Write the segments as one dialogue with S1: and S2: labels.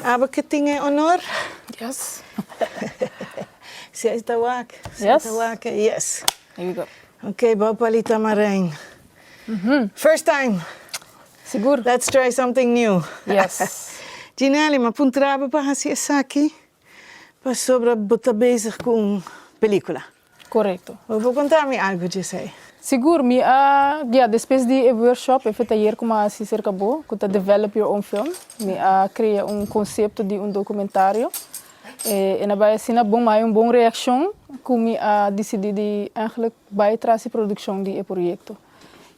S1: Abo ke tin e onor. Yes. Siai ta wak. Yes. Siai ta wak. Yes. Here we go. Ok bou palita marein. First time. Sigur. Let's try something new. Yes. Djinelly, ma puntra bo pa hasi esaki pasobra bo ta bezig ku un pelikula. Korekto. Bo por konta mi algu dj'esei? Sigur, mi a, ya, despues di e workshop, efe tayer ku mi a hasi serka bo, ku ta Develop Your Own Film, mi a krea un konsepto di un dokumentario. E na bai asina, bon mi a haya un bon reakshon ku mi a disidí di, ègèlèk, bai tras e produkshon di e proyekto.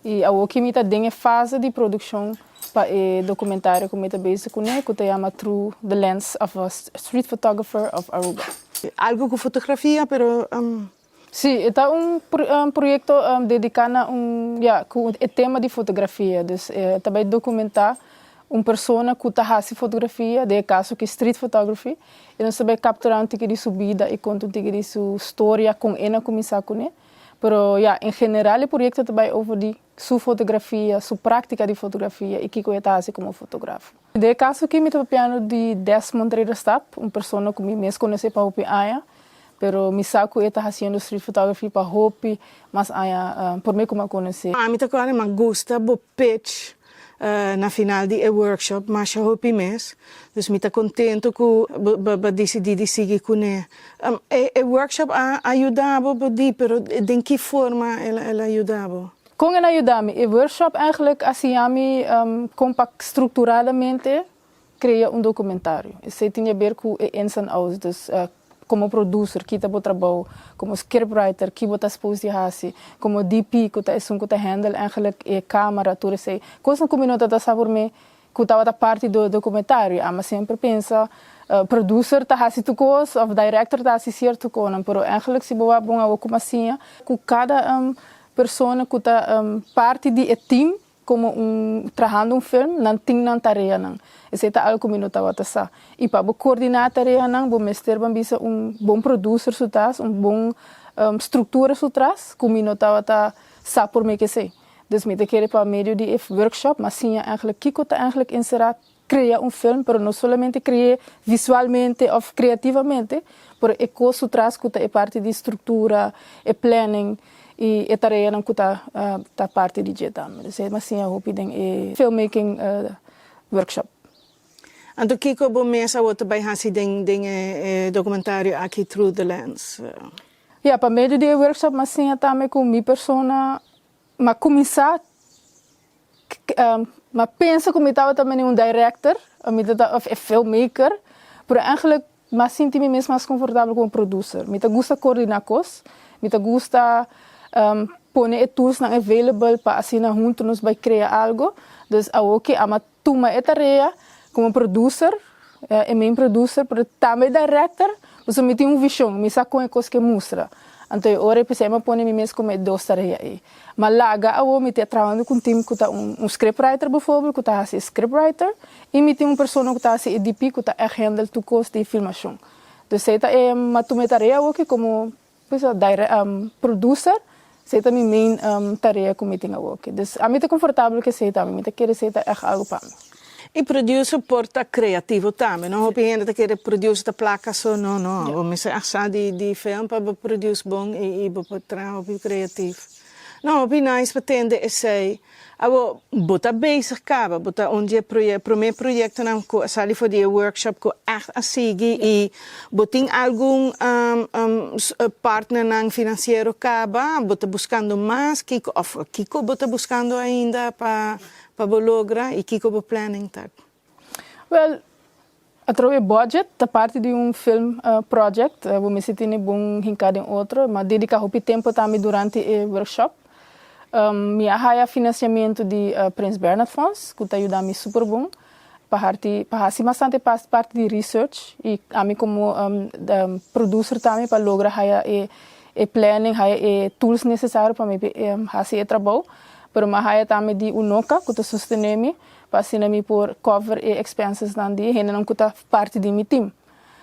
S1: I awor ki mi ta den e fase di produkshon pa e dokumentario ku mi ta bezi kuné ku ta yama Through the Lens of a Street Photographer of Aruba. Algu ku fotografia pero. Si, e ta un proyekto dediká na un, ya, ku e tema di fotografia. Dus e ta bai dokumentá un persona ku ta hasi fotografia, den e kaso ki street photography, i nos ta bai kapturá un tiki di su bida i konta un tiki di su storia kon e na kuminsá kuné. Pero ya, en general e proyekto ta bai over di su fotografia, su práktika di fotografia i kiko e ta hasi komo fotografo. Den e kaso aki mi ta papiando di Desmond Rederstap, un persona ku mi mes konosé pa hopi aña, pero mi sa ku e ta hasiendo street photography pa hopi mas aña promé ku mi a konos'é. Mi ta kòrda, mi a gusta bo pech Na final di e workshop masha hopi mes, dus mi ta contento cu bo bo a dicidi di sigui cune. E workshop a yuda bo bo di, pero den ki forma el a yuda bo? Con el a yuda mi? E workshop eigenlijk a siña mi con pa structuradamente Krea un dokumentario. Esei tin yaber ku e ins en outs. Dus, komo produser, kita bo trabou. Komo skripwriter, ki bo ta spous di hasi. Komo DP, ku ta esun ku ta hèndel èigelik e kámara, tur esei. Kosnan ku mi no tabata sa por mi, ku tabata parti di e dokumentario. Ama semper pensa, produser ta hasi tur kos, òf dairektor ta hasi sierto konan. Pero èigelik si bo a bon awo kuma siña ku kada persona ku ta parti di e tim Komo un trahando un firm nan tin nan tareanan. Esei ta algu ku mi no tabata sa. I pa bo koordiná tareanan bo mester ban bisa un bon produser su tras, un bon struktura su tras ku mi no tabata sa por mi ke esei. Dus mi ta kere pa medio di e workshop mi a siña kiko ta enserá Crea un film pero no solamente cre'é visualmente of creativamente pero e cos su tras cu ta e parti di structura, e planning y e tareanan cu ta ta parti di dje tambe. Dus e masiña hopi den e filmmaking workshop. Anto kico bo mes awor ta bay haci den den e e documentario aki Through the Lens? Ya, pa medio di e workshop m'a siña tambe cu mi persona M'a kuminsá m'a pensa ku mi tabata mene un director o mi ta ta e filmmaker, pero eigenlijk m'a sinti mi mes mas konfortabel ku un producer. Mi ta gusta koordiná kos, mi ta gusta pone e toolsnan available pa asina huntu nos bai krea algo, dus awor ke a'ma Tuma e tarea como producer, e main producer, pero tambe director, pasobra mi tin un vision, mi sa con e cos ke mustra. Anto e ora ei p'esei mi a pone mi mes como e dos tarea ei. Ma laga awor mi tin a trabando cu un team cu ta un script writer beforbel cu ta haci e script writer y mi tin un persona cu ta haci e DP cu ta ect handle tur cos di filmacion. Entonces ei ta e mi a tuma e tarea awor ki como Bisa daire am producer sei ta mi main am tarea ku mi tin awoke dus ami ta konfortabel ku esei tambe mi ta kere esei ta èg algu pa mi. E producer por ta kreativo tambe no hopi hende ta kere producer ta plaka so no no bo mester a sa di di film pa bo produce bon i bo por traha hopi kreativo no hopi nice pa tende esei Awor, bo ta bezig kaba, bo ta un di e promé proyektonan ku a sali for di e workshop ku ègt a sigui i bo tin algun partnernan finansiero kaba, bo ta buskando mas, kiko òf kiko bo ta buskando ainda pa bo logra i kiko bo planning ta? Wel, a trobe budget ta parti di un film project, bo mester tene bon hinká den otro, ma dediká hopi tempu tambe durante e workshop. Mi a haya finansiamentu di Prins Bernhard Fonds ku ta yuda mi super bon pa harti pa hasi bastante parti di research i ami komo producer tambe pa logra haya e planning haya e tools nesesario pa mi hasi e trabou, pero mi a haya tambe di UNOCA ku ta sostené mi pa asina mi por cover e expensesnan di e hendenan cu ta parti di mi team.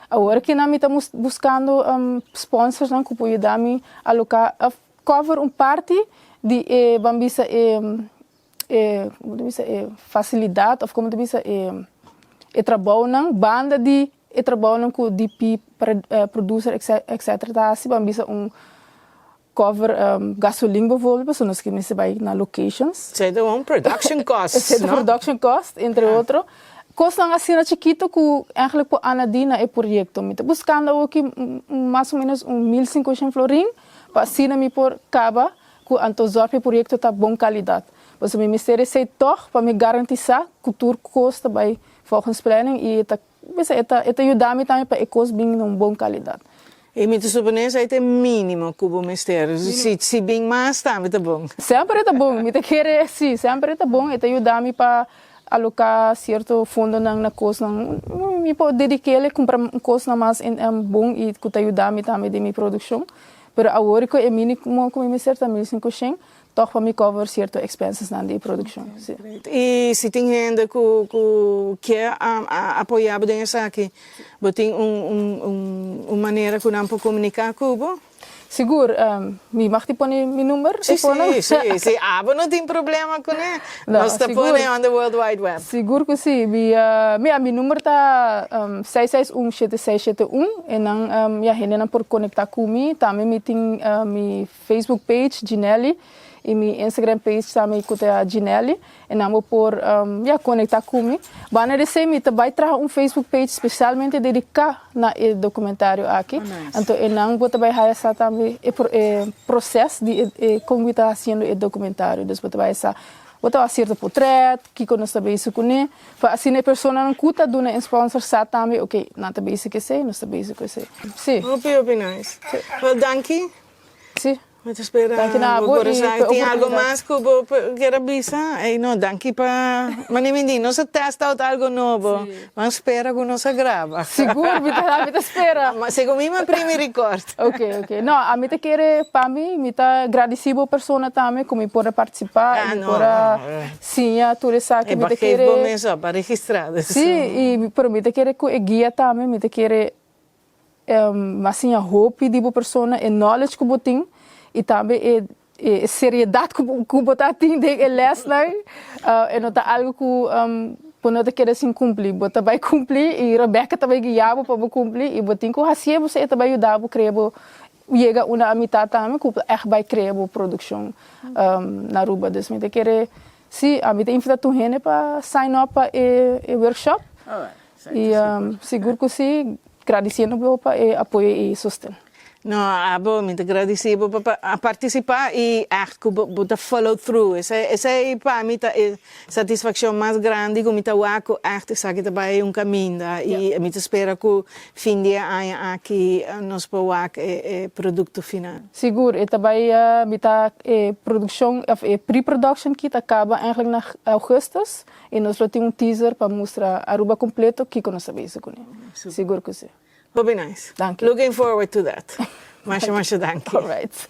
S1: Awor aki nan mi ta buscando sponsorsnan cu por yuda mi a loca a cover un parti di e ban bisa e e como ta bisa e facilidad of como ta bisa e e trabounan banda di e trabounan cu DP producer etc ta haci ban bisa un Cover gasolin bijvoorbeeld pasobra nos ke mester bai na locations. Esei ta un production costs, no? Esei ta production costs, entre otro. Kosnan asina chikito ku eigenlijk por anadi na e proyekto. Mi ta buskando awo aki un mas o menos un mil sinkoshent florin pa asina mi por kaba ku anto zòrg pa e proyekto ta bon kalidat. Pasobra mi mester esei tòg pa mi garantisá ku tur kos ta bai volgens planning i e ta. Bisa e ta e ta yuda mi tambe pa e kos bin na un bon kalidat. E mi ta suponé esei ta e mínimo ku bo mester. Si si bin mas tambe ta bon. Semper e ta bon, mi ta kere si semper e ta bon e ta yuda mi pa aloká sierto fondonan na kosnan mi por dedik'é el kumpra kosnan mas bon i ku ta yuda mi tambe den mi produkshon. Pero awor ku e mínimo ku mi mester ta mil sinkoshen Tog pa mi cover cierto expensesnan di produccion. Y si tin hende cu kier apoya bo den esaki, bo tin un manera cu nan por comunica cu bo? Sigur, mi mag tin pone mi number? Si, si, si abo no tin problema con e, nos ta pone on the world wide web. Sigur cu si, mira, mi number ta seis seis un shete seis shete un, e nan, ya, hendenan por conecta cu mi, tambe mi tin mi Facebook page Ginelly y mi Instagram page tambe cu ta Ginelly. Nan bo por ya conecta cu mi. Banda di esey mi ta bay traha un Facebook page specialmente dedica na e documentario aki. Anto e nan bo ta bay haya sa tambe e proces di e con wi ta haciendo e documentario. Dus bo ta bay sa bo ta haci cierto potret, kico nos ta bezig cune. Pa asina e personanan cu ta duna e sponsor sa tambe, ok, nan ta bezig cu esey, nos ta bezig cu esey. Si. Hopi hopi nice. Well danki Sí. Mi ta spera bo Corazon e tin algo mas cu bo kier a bisa. Ey no, danki pa mane Mindy. Nos a test out algo nobo. M'a spera cu nos a graba. Sigur, mi ta, mi ta spera. Ma segun mi m'a primi record. Ok, ok. No, ami ta kere, pa mi, mi ta gradeci bo persona tambe cu mi por a participa y mi por a siña tur esaki. Mi ta kere. E ba geef bo mes op, a registra. Sí, y, pero mi ta kere cu e guia tambe, mi ta kere. Bo a siña hopi di bo persona e knowledge ku bo tin i tambe e seriedat ku bo ta tin den e lèsnan. E no ta algu ku bo no ta keda sin kumpli. Bo ta bai kumpli i Rebecca ta bai guia bo pa bo kumpli i bo tin ku hasié bo esei ta bai yuda bo krea bo yega una amitat tambe ku bo ta ègt bai krea bo produkshon na Aruba. Dus mi ta kere Sí, ami ta invita tur hende pa sign up pa e workshop y sigur cu sí, gradiciendo bo pa e apoyo y sosten. No, abo mi ta gradici bo pa participa y echt cu bo ta follow through, esey pa mi ta e satisfaccion mas grandi cu mi ta wak cu echt esaki ta bay un caminda y mi ta spera cu fin di e aña aki nos por wak e producto final. Sigur e ta bai a mita e produccion of e pre-production aki ta caba eigenlijk na augustus y nos lo tin un teaser pa mustra Aruba completo kico nos a bezi cu ne. Sigur cu si. Hopi nice. Danki. Looking forward to that. Masha masha danki. Alright.